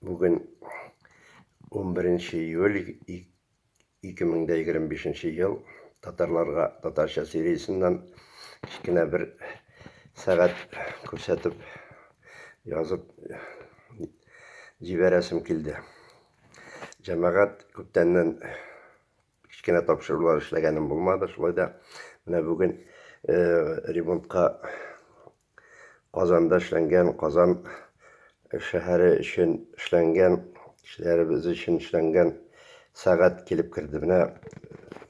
Бүген 11 июль 2025 ел татарларга татарча сериясеннән кечкенә бер сәгать күрсәтеп язып җибәрәсем килде. Җәмәгать күптәннән Кечкенә тапшырулар эшләгәнем булмады. Шулай да менә бүген ремонтка Казанда эшләнгән, Казан шәһәре өчен эшләнгән, кешеләребез өчен эшләнгән сәгать килеп керде. Менә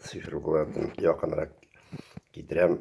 цифрларны якынрак китерәм.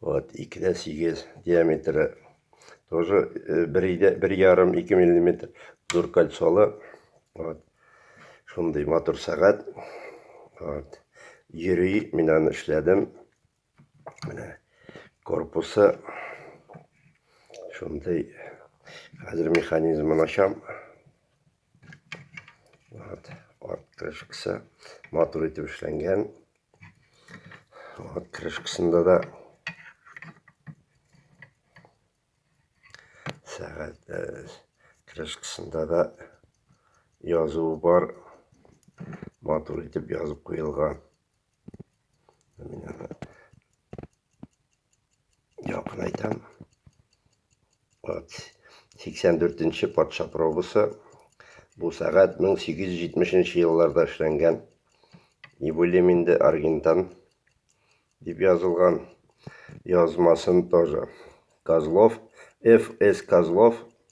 Вот, 2 дә 8 диаметры. Тоже 1 ярым 2 миллиметр зур кольцолы. Вот. Шундый матур сәгать. Вот. Йөри, мин аны эшләдем. Менә корпусы шундый. Хәзер механизмын ачам. Вот, арт крышкасы матур итеп эшләнгән. Вот, крышкасында да сәгать э, крышкасында да язуы бар. Матур итеп язып куелган. Сиксән дүртенче патша пробасы. Бу сәгать 1870 елларда эшләнгән. Ибулем инде Аргентан дип язылган язмасын тоже. Козлов, Ф.С. Козлов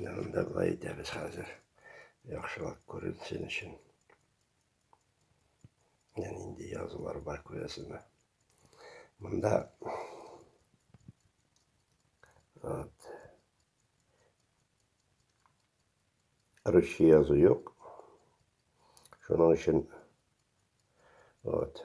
Янын да былай итәбез хәзер. Яхшылап күренсен өчен. Яни инде язулар бар күрәсезме. Монда вот. Русча язу юк. Шуның өчен вот.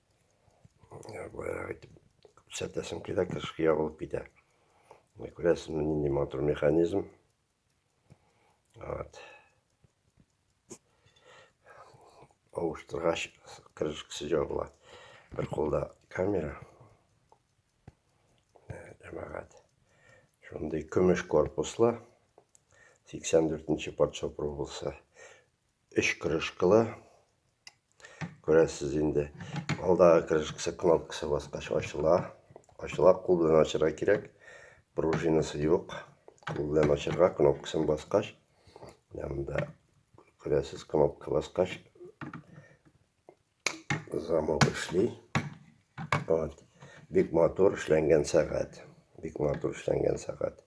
баягы итеп күрсәтәсем килә кышкы ябылып китә күрәсезме нинди матур механизм вот авыштыргач крышкасы жабыла бер кулда камера җәмәгать шундый көмеш корпуслы 84 нче патша пробасы Өч крышкалы. Күрәсез инде. Алдагы крышкасы кнопкасы баскач ачыла. Ачыла, кул белән ачырга кирәк. Пружинасы юк. Кул белән ачырга кнопкасын баскач. Янында күрәсез кнопка баскач замок эшли. Вот. Бик матур эшләнгән сәгать. Бик матур эшләнгән сәгать.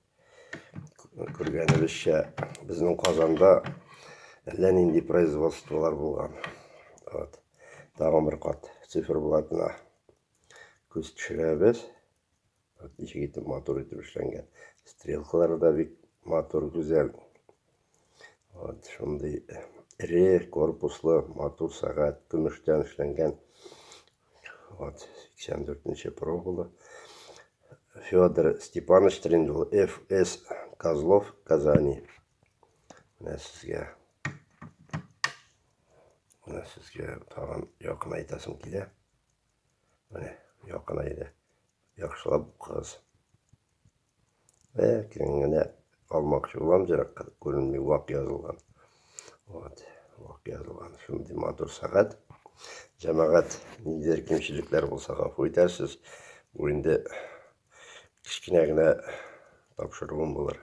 Күргәнебезчә, безнең Казанда әллә нинди производстволар булган. Вот. Тагын бер кат циферблатына күз төшерәбез. Вот, ничек итеп матур итеп эшләнгән. Стрелкалары да бик матур, гүзәл. Вот шундый эре корпуслы матур сәгать, көмештән эшләнгән. Вот 84-нче пробалы. Федор Степанович Триндул, ФС Козлов, Казани. Менә сезгә. Менә сезгә тагын якын әйтәсем килә. Менә якын әйдә. Яхшылап укыгыз. Ләкин генә алмакчы булам зиракка күренми вак язылган. Вот, вак язылган. Шундый матур сәгать. Җәмәгать ниндидер кимчелекләр булса гафу итәрсез. Бу инде кечкенә генә тапшыруым булыр.